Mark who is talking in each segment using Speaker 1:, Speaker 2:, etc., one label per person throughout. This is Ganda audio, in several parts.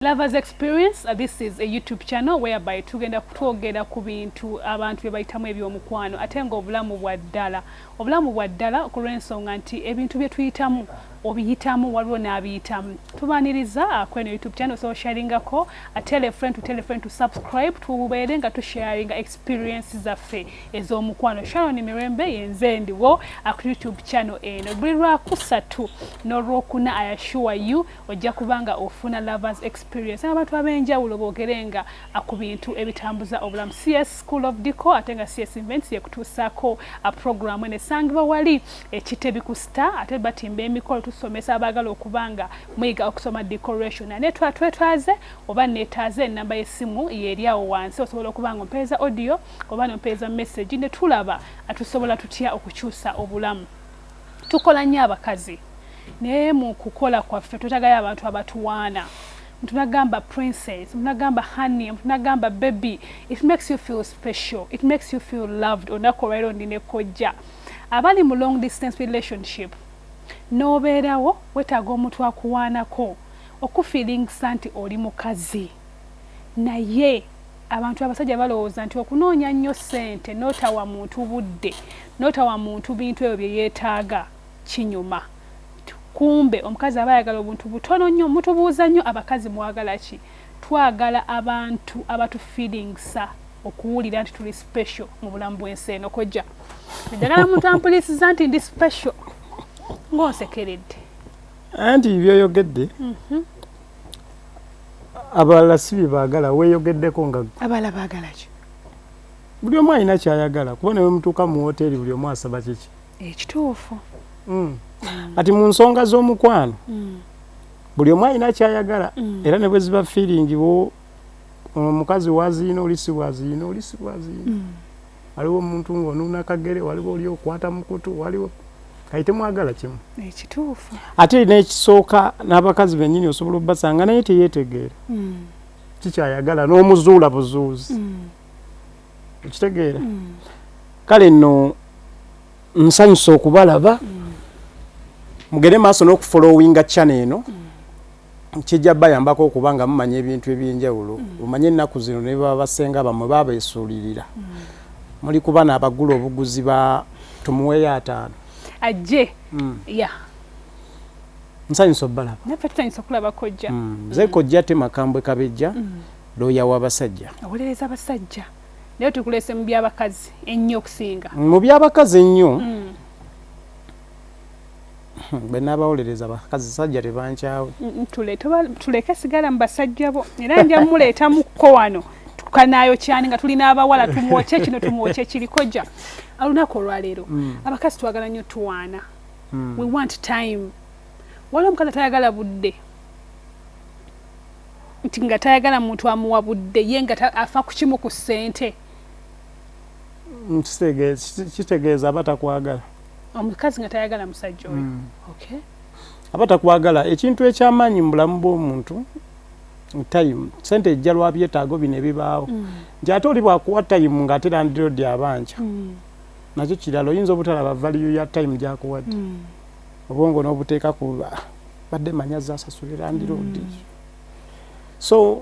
Speaker 1: Lovers Experience, uh, this is a YouTube channel whereby tugenda kutwogera ku bintu abantu bye bayitamu eby'omukwano ate nga obulamu bwa ddala obulamu bwa ddala ku lw'ensonga nti ebintu bye tuyitamu obiyitamu waliwo n'abiyitamu tubaniriza uh, kweno YouTube channel so sharingako uh, tell a friend to tell a friend to subscribe tubeere nga tusharinga experience zaffe ez'omukwano Sharon Mirembe yenze ndiwo ku YouTube channel eno buli lwakusatu n'olwokuna I assure you ojja kuba nga ofuna lovers experience abantu ab'enjawulo boogere nga ku bintu ebitambuza obulamu cs school of dico ate nga cs invents yekutuusaako programu eno esangibwa wali ekitebi ku star ate batimba emikolo tusomesa abaagala okuba nga muyiga okusoma decoration ane twetwaze oba neetaaze enamba y'essimu yeeri awo wansi osobola okuba nga ompeereza audio oba nompeereza message ne tulaba tusobola tutya okukyusa obulamu Tukola nnyo abakazi naye mu kukola kwaffe twetagayo abantu abatuwaana omuntu nagamba princess omuntu nagamba honey omuntu nagamba baby it makes you feel special it makes you feel loved olunaku olwaliro ndi ne kojja abali mu long distance relationship n'obeerawo wetaaga omuntu akuwaanako okufiiringisa nti oli mukazi naye abantu abasajja balowooza nti okunoonya nnyo ssente n'otawa muntu budde n'otawa muntu bintu ebyo bye yeetaaga kinyuma kumbe omukazi aba ayagala obuntu butono nnyo mutubuuza nnyo abakazi mwagala ki twagala abantu abatufilingisa okuwulira nti tuli special mu bulamu bw'ensi eno kojja njagala muntu ampulisiza nti ndi special ng'onsekeredde
Speaker 2: anti byoyogedde mhm. abalala si bye baagala weeyogeddeko nga abalala baagala ki
Speaker 1: buli
Speaker 2: omu alina kyayagala kuba ne wemutuuka mu woteeri buli omu asaba kiki ekituufu
Speaker 1: hmm.
Speaker 2: kati mu nsonga z'omukwano hmm. buli omu alina kyayagala hmm. era ne bwe ziba fiiringi omukazi waziina olisibwaziina olisibwaziina waliwo omuntu ng'onuuna kagere waliwo oli okwata mukutu waliwo kati temwagala kimu ekituufu
Speaker 1: ate n'ekisooka
Speaker 2: n'abakazi bennyini osobola obbasanga naye teyeetegeera mm. kikyayagala n'omuzuula buzuuzi mm. okitegeera mm. kale nno nsanyusa okubalaba mm. mugere maaso n'okufolowinga chana eno mm. kijja bayambako okuba nga mumanya ebintu ebyenjawulo mm. omanye ennaku zino ne baba basenga bamwe babeesuulirira mm. muli kuba naabagula obuguzi ba tumuweeyo ataano ajje
Speaker 1: mm. ya
Speaker 2: nsanyusa obalaba nafe tusanyusa okulaba
Speaker 1: kojja mm. ze kojja te
Speaker 2: makambwe kabejja mm. looya w'abasajja awolereza abasajja
Speaker 1: naye tukuleese mu byabakazi ennyo okusinga mu byabakazi
Speaker 2: ennyo mm. Hmm, bwenabawolereza abasajja tebankyawe
Speaker 1: tuleke sigala mu basajja bo era nja muleetamukko wano tukanayo kyani nga tulina abawala tumwokye kino tumwokye kirikoja olunaku olwaleero hmm. abakazi twagala nnyo tuwaana hmm. we want time waliwo omukazi atayagala budde nti nga tayagala muntu amuwa budde ye nga afa kukimu ku ssente
Speaker 2: kitegeeza aba takwagala omukazi nga
Speaker 1: tayagala musajja oyo mm. okay. aba
Speaker 2: takwagala ekintu ekyamaanyi mu bulamu bw'omuntu time sente ejja lwa byetaago bino ebibaawo mm. nti ate oli bwakuwa time ng'ate landirodi abanja mm. nakyo kirala oyinza obutalaba valiyo ya time gyakuwadde mm. obwongo n'obuteeka ku badde manya zasasulira ndirodi mm. so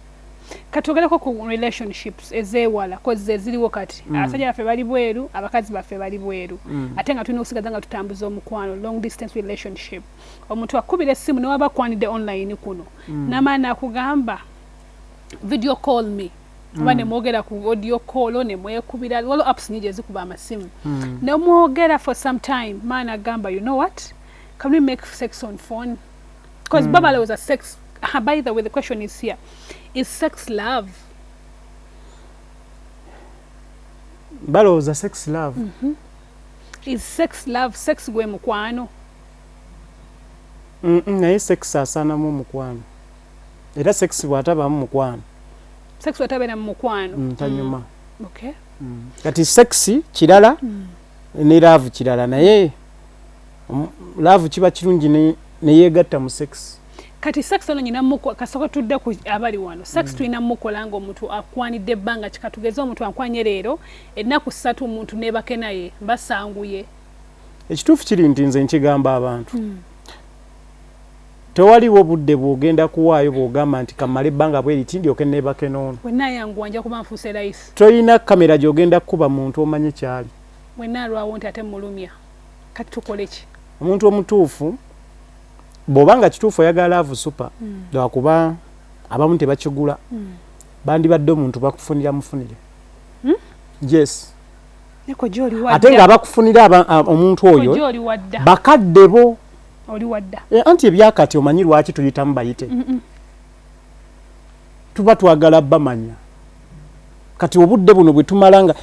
Speaker 1: katwogereko ku relationships ezewala kozi eziriwo kati mm. abasajja baffe bali bweru abakazi baffe bali bweru mm. ate nga tulina okusigaza nga tutambuza omukwano long distance relationship omuntu akubira essimu newaba kwanidde online kuno mm. namaani akugamba video call me oba mm. nemwogera ku audio call nemwekubira waliwo apps nyingi ezikuba amasimu mm. nemwogera for some time maani agamba you know what can we make sex on phone because mm. baba alowooza sex uh, by the way the question is here is sex love
Speaker 2: balowooza sex love mm
Speaker 1: -hmm. is sex love sex gwe mukwano mm
Speaker 2: -mm, naye sex asaanamu omukwano era sex bwatabamu mukwano
Speaker 1: sex bwatabeera mu mukwano mm, tanyuma mm.
Speaker 2: okay.
Speaker 1: mm. kati sex
Speaker 2: kirala mm. ne love kirala naye mm. love kiba kirungi ne yegatta mu sex kati sex ono
Speaker 1: nyina muko kasoka tudde ku abali wano sex mm. tulina muko langa omuntu akwanidde ebbanga kikatugeze omuntu ankwanye leero ennaku ssatu omuntu nebake naye basanguye ekituufu
Speaker 2: kiri nti nze nkigamba abantu mm. tewaliwo budde bwogenda kuwaayo bwogamba nti kamale ebbanga bweri kindi oke nebake noono
Speaker 1: tolina kamera
Speaker 2: gyogenda kukuba muntu omanye kyali wenaalwawo nti
Speaker 1: ate mulumya kati tukole ki omuntu omutuufu
Speaker 2: bwoba nga kituufu oyagala laavu supa hmm. lwakuba abamu tebakigula hmm. bandibadde omuntu bakufunira mufunire hmm? yes ate nga abakufunira omuntu oyo bakadde bo
Speaker 1: eh, anti ebyakati
Speaker 2: omanyi lwaki tuyitamu bayite tuba twagala bamanya kati obudde buno bwetumala nga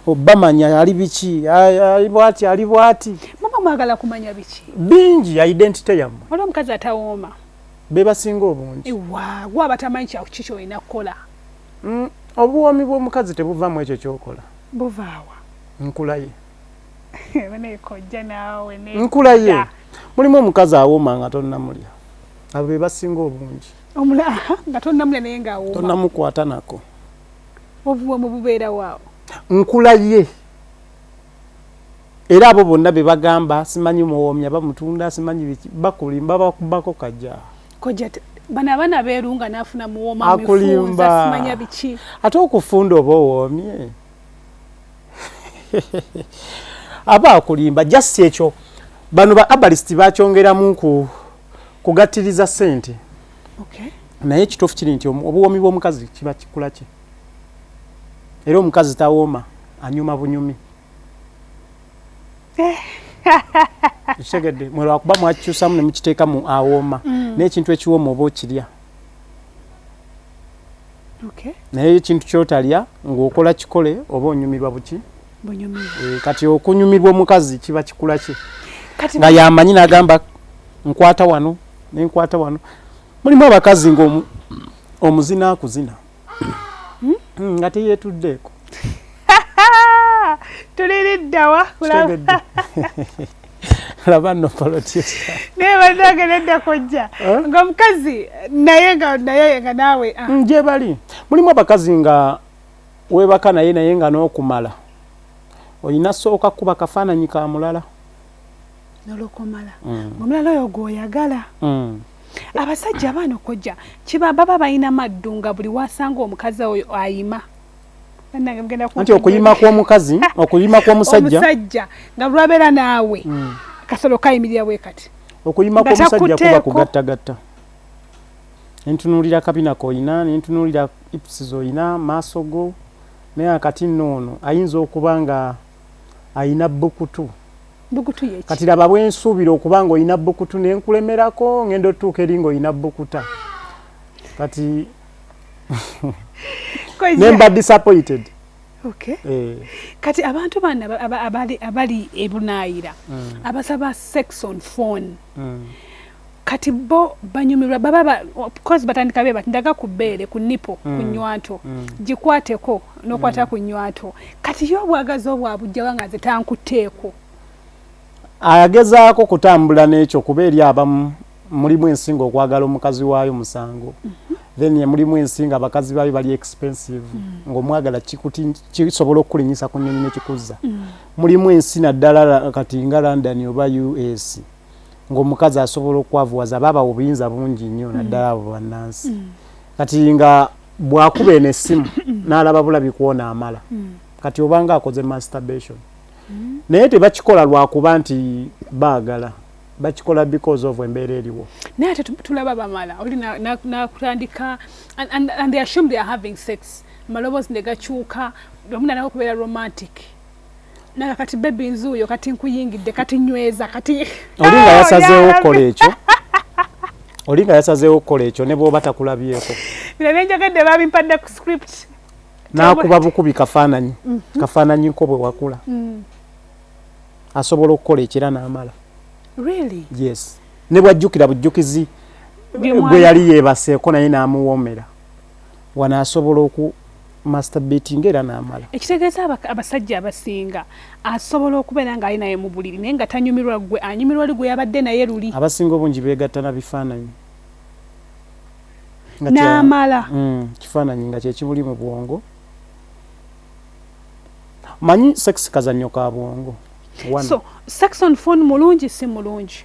Speaker 2: oh, bamanya ali biki ali bwati ali bwati mama mwagala
Speaker 1: kumanya biki bingi ya identity
Speaker 2: yamu wala omukazi atawooma
Speaker 1: be basinga
Speaker 2: obungi ewa gwa batamanyi
Speaker 1: kya kiki olina kukola mm,
Speaker 2: obuwoomi bw'omukazi tebuvamu ekyo kyokola buvaawa
Speaker 1: nkulaye nkulaye
Speaker 2: mulimu omukazi awooma nga tonnamulya abo be basinga obungi omulaha nga
Speaker 1: tonnamula naye nga awoma tonnamukwata nako
Speaker 2: obuwomu
Speaker 1: bubeera waawo nkula ye
Speaker 2: era abo bonna be bagamba simanyi muwoomya bamutunda simanyi biki bakulimba bakubako kajja kojja
Speaker 1: bano abaana beerunga n'afuna muwooma akulimba simanya biki ate okufunda
Speaker 2: oba owoomye aba akulimba just ekyo bano ba abalist bakyongeramu ku kugatiriza sente okay. naye ekituufu kiri nti obuwoomi bw'omukazi kiba kikula kye era omukazi tawooma anyuma bunyumi ekitegedde mwe lwakuba mwakikyusamu ne mukiteekamu awooma mm. naye ekintu ekiwooma oba okirya naye ekintu kyotalya ng'okola kikole oba onyumirwa buki Eh, kati okunyumirwa omukazi kiba kikula ki nga yamanyi nagamba nkwata wano nenkwata wano mulimu abakazi nga omuzina akuzina hmm? Hmm, nga teyetuddeeko
Speaker 1: tuliriddawa laba
Speaker 2: no politisa naye banange
Speaker 1: nedda kojja eh? nga omukazi naye nga naye nga naawe ah. njebali
Speaker 2: mulimu abakazi nga webaka naye naye nga nokumala olina sooka kuba kafaananyi ka mulala
Speaker 1: nolokomala mm. omulala oyo gwoyagala mm. abasajja abaana okojja kiba baba balina maddu nga buli wasanga omukazi oyo ayima
Speaker 2: nti okuyima kwomukazi okuyima kwomusajja nga lwabeera
Speaker 1: naawe mm. kasolo kayimirira bwe kati okuyima kwomusajja
Speaker 2: kuba kugattagatta nentunuulira kabina koyina nentunuulira ips zoyina maaso go naye akati nno ono ayinza okuba nga ayina bukutu bukutu yeki kati laba bwensuubira okuba nga oyina bukutu nenkulemerako ngenda otuuka eri nga oyina bukuta kati nemba disappointed Okay. Eh.
Speaker 1: Kati abantu bana abali abali ebunayira mm. abasaba sex on phone. Mm. kati bo banyumirwa baba ba, coz batandika beba ndaga ku bbeere ku nipo mm. ku nywanto mm. gikwateko nokwata mm. ku nywanto kati yo obwagazi obwabujjawa nga nze tankutteeko agezaako
Speaker 2: kutambula n'ekyo kuba eri abamu mulimu ensinga okwagala omukazi waayo musango mm -hmm. then mulimu ensinga abakazi baayo bali expensive mm. ng'omwagala kisobola okukulinyisa ku nnyonyi nekikuzza mm. mulimu ensi naddala kati nga london oba us ng'omukazi asobola okukwavuwaza aba abawa obuyinza bungi nnyo mm. naddala abo bannansi mm. kati nga bwakuba eno essimu mm. n'alaba bulabi kwona amala kati obanga akoze masturbation naye tebakikola lwakuba nti baagala bakikola because of embeera eriwo naye ate tulaba
Speaker 1: bamala oli nakutandika and they assume they are having sex maloboozi ne gakyuka omu nanawo okubeera romantic naga kati bebi nzuuyo kati nkuyingidde kati nyweza kati oli nga yasazeewo
Speaker 2: okukola ekyo oli nga yasazeewo okukola ekyo ne bwoba takulabyeko bino byenjogadde
Speaker 1: babimpadde ku script nakuba
Speaker 2: bukubi kafaananyi mhm. kafaananyi nko bwe wakula mm. asobola okukola ekira n'amala
Speaker 1: yes
Speaker 2: ne bwajjukira bujjukizi gwe yali yeebaseeko naye n'amuwoomera wano asobola oku masturbatinga era n'amala. Ekitegeeza abasajja
Speaker 1: abasinga asobola okubeera ng'ali naye mu buliri naye nga tanyumirwa ggwe, anyumirwa oli gwe yabadde naye luli. Abasinga obungi beegatta
Speaker 2: na bifaananyi
Speaker 1: n'amala mm, kifaananyi
Speaker 2: nga kye kibuli mu bwongo. Manyi sex kazannyo ka bwongo. So
Speaker 1: sex on phone mulungi si mulungi?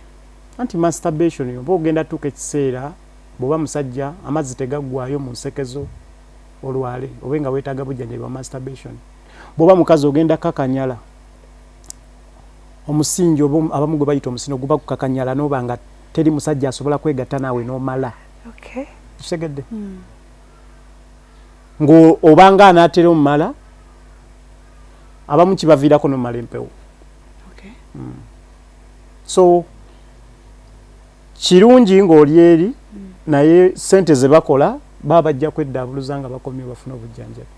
Speaker 1: Anti
Speaker 2: masturbation oba ogenda tuuka ekiseera bw'oba musajja amazzi tegaggwayo mu nsekezo. olwale obe nga wetaga bujjanjabi wa masturbation bwoba mukazi ogenda kakanyala omusingi oba abamu gwe bayita omusino guba gukakanyala noba nga teri musajja asobola kwegatta naawe nomala kitegedde hmm. ngaobanga anaatera omumala abamu kibaviirako nomumala empewo hmm. so kirungi ng'oli eri naye sente ze bakola baba bajja kweddaabuluza nga bakomye bafuna obujjanjabi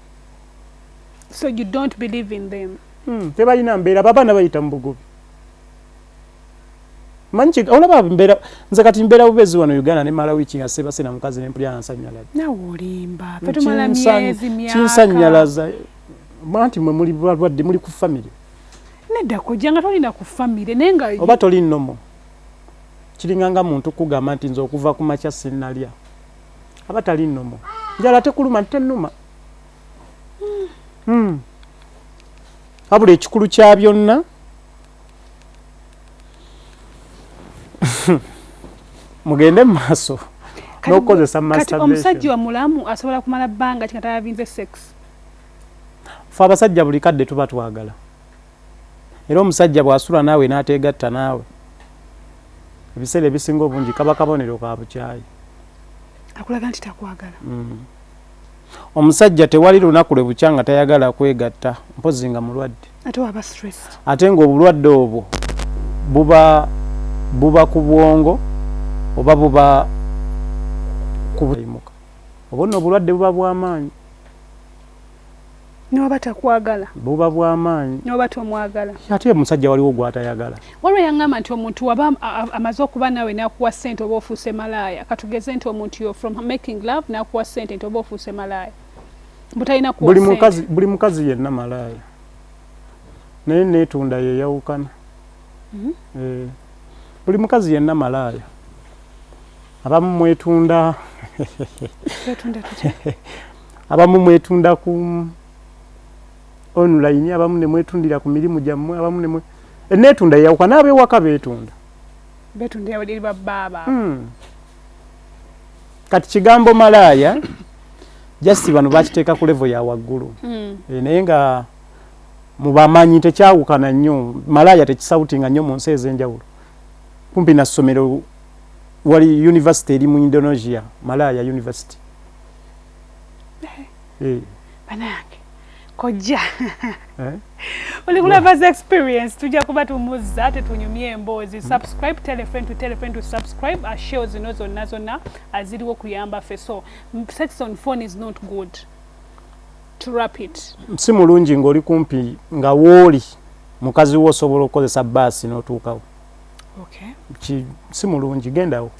Speaker 1: so you don't believe in them hmm, tebalina mbeera
Speaker 2: babaana bayita mu bugubi manyi olaba mbeera nze kati mbeera bubezi wano uganda ne mala wiiki nga sebase na mukazi nempulira nansanyalaza nawe olimba
Speaker 1: fetumala myezi myaka kinsanyalaza
Speaker 2: manti mwe muli balwadde muli ku famire nedda
Speaker 1: kojja nga tolina ku famire naye nga oba toli nomo
Speaker 2: Kiringa nga muntu kugamba nti nze okuva ku makya sinalya. Aba tali nomo. Njala tekuluma nti tenuma. Hmm. Abula ekikulu kya byonna. Mugende maso. No cause some masturbation. Kati omusajja wa mulamu
Speaker 1: asobola kumala banga kika tayavinze sex.
Speaker 2: Fa abasajja buli kadde tuba twagala. Era omusajja bw'asula naawe n'ateegatta naawe, ebiseera ebisinga obungi kaba kabonero ka bukyayi.
Speaker 1: Akulaga nti takwagala. Mm. Omusajja
Speaker 2: tewali lunaku lwe bukya nga tayagala kwegatta mpozzi nga mulwadde. Ate waba stressed.
Speaker 1: Ate ng'obulwadde
Speaker 2: obwo buba buba ku bwongo oba buba kubuyimuka. Obwo nno obulwadde buba bw'amaanyi.
Speaker 1: N'oba takwagala. Buba bwa maanyi.
Speaker 2: N'oba tomwagala.
Speaker 1: Ate omusajja waliwo
Speaker 2: gw'atayagala. Waliwo eyangamba nti
Speaker 1: omuntu waba amaze okuba naawe n'akuwa ssente oba ofuuse malaaya. Katugeze nti omuntu yo from making love n'akuwa ssente nti oba ofuuse malaaya. Butalina kuwa ssente. Buli mukazi, buli mukazi yenna
Speaker 2: malaaya. Naye neetunda yeeyawukana. Mm -hmm. eh, buli mukazi yenna malaaya. Abamu mwetunda. Twetunda tutya? abamu mwetunda ku online abamu ne mwetundira ku mirimu gyammwe abamu ne eneetunda yeyawuka n'abewaka beetunda betundira
Speaker 1: eri babbaaba hmm.
Speaker 2: kati kigambo malaaya jasi bano bakiteeka ku levo ya waggulu hmm. eh, naye nga mubamanyi tekyawukana nnyo malaaya tekisawutinga nnyo mu nsi ez'enjawulo kumpi na ssomero wali univesity eri mu indonesia malaaya univesity eh.
Speaker 1: banange kojja eh? oli kulavaza experience tujja kuba tumuzza ate tunyumye emboozi hmm. subscribe tell a friend to tell a friend to subscribe a show zino zonna zonna aziriwo kuyamba fe so sex on phone is not good to wrap it si mulungi ng'oli kumpi nga wooli mukazi wo osobola okukozesa baasi n'otuukawo okay. si mulungi gendawo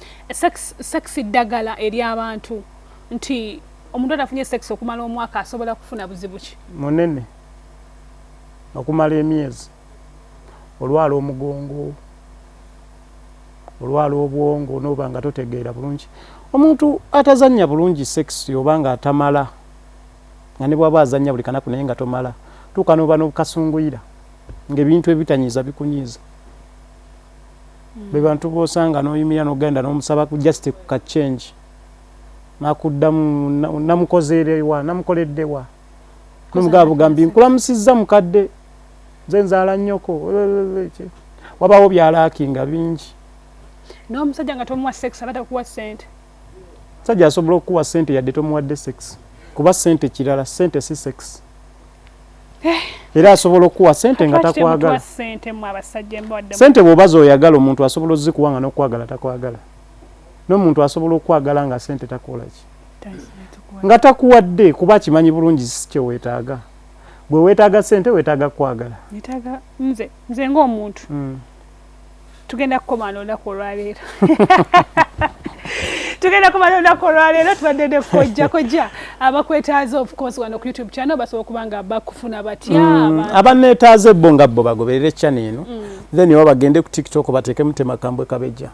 Speaker 1: sex ddagala eri abantu nti omuntu atafunye sex okumala omwaka asobola kufuna buzibu ki munene okumala emyezi olwala omugongo olwala obwongo noba nga totegeera bulungi omuntu atazannya bulungi sex oba nga atamala nga ne bwaba azannya buli kanaku naye nga tomala tuuka noba nokasunguyira ngaebintu ebitanyiiza bikunyiiza mm. bebantu bosanga noyimira nogenda nomusaba ku just ku ka change nakuddamu namukozerewa namukoleddewa nomugaba bugambi nkulamusizza mukadde nze nzaala nnyoko wabawo byalakinga bingi n'omusajja nga tomuwa sex abata kuwa sente Omusajja asobola okukuwa sente yadde tomuwadde sex kuba sente kirala sente si sex. Eh. Era asobola okukuwa sente nga takwagala. Sente bw'oba z'oyagala omuntu asobola ozikuwa nga n'okwagala takwagala. N'omuntu asobola okwagala nga sente takola ki. Nga takuwadde kuba akimanyi bulungi si kye weetaaga. Gwe weetaaga sente weetaaga kwagala. Nze ng'omuntu. Hmm. tugenda kukoma n'olunaku olwaleero tugenda kuba n'olunaku olwaleero tubadde ne kojja kojja abakwetaaza ofcourse wano ku youtube channel basobola okuba nga bakufuna batya mm, abanneetaaza ebbo
Speaker 2: nga bbo bagoberere channel eno mm. then oba bagende ku tiktok bateekemu temakambwe kabejja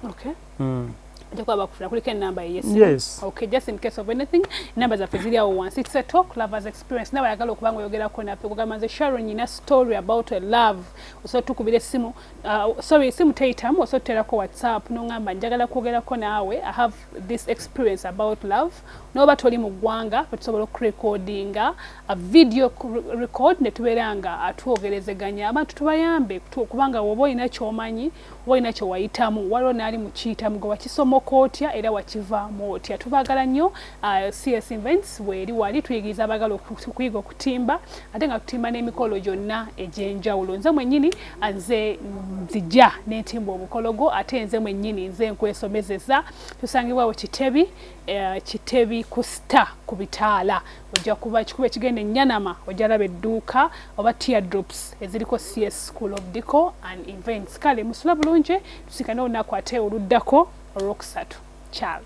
Speaker 2: mm. njakuba bakufuna
Speaker 1: kuliko enamba yeyes okay just
Speaker 2: in case of
Speaker 1: anything enamba zaffe ziri awo wansi it's a talk lovers experience nawe ayagala okuba nga oyogerako naffe kugamba nze sharon nyina story about a love osobola tukubira essimu uh, sorry essimu teyitamu osobola tuterako whatsapp nongamba njagala kwogerako naawe i have this experience about love noba toli mu ggwanga bwetusobola okurecordinga a video record netubeera nga atwogerezeganya abantu tubayambe kubanga woba olina kyomanyi walina kye wayitamu waliwo naali mukiyitamu gwe wakisomoka otya era wakivaamu otya tubaagala nnyo uh, cs invents weeri wali tuyigiriza abaagala okuyiga okutimba ate nga tutimba n'emikolo gyonna egy'enjawulo nze mwennyini uh, nze nzija n'entimba obukologo ate nze mwennyini nze nkwesomezeza tusangibwawo kitebi uh, kitebi ku star ku bitaala ojja kuba kikuba ekigenda enyanama ojja laba edduuka oba teardrops eziriko cs school of deco and events kale musula bulungi tusikane olunaku ate oluddako olwokusatu kyalo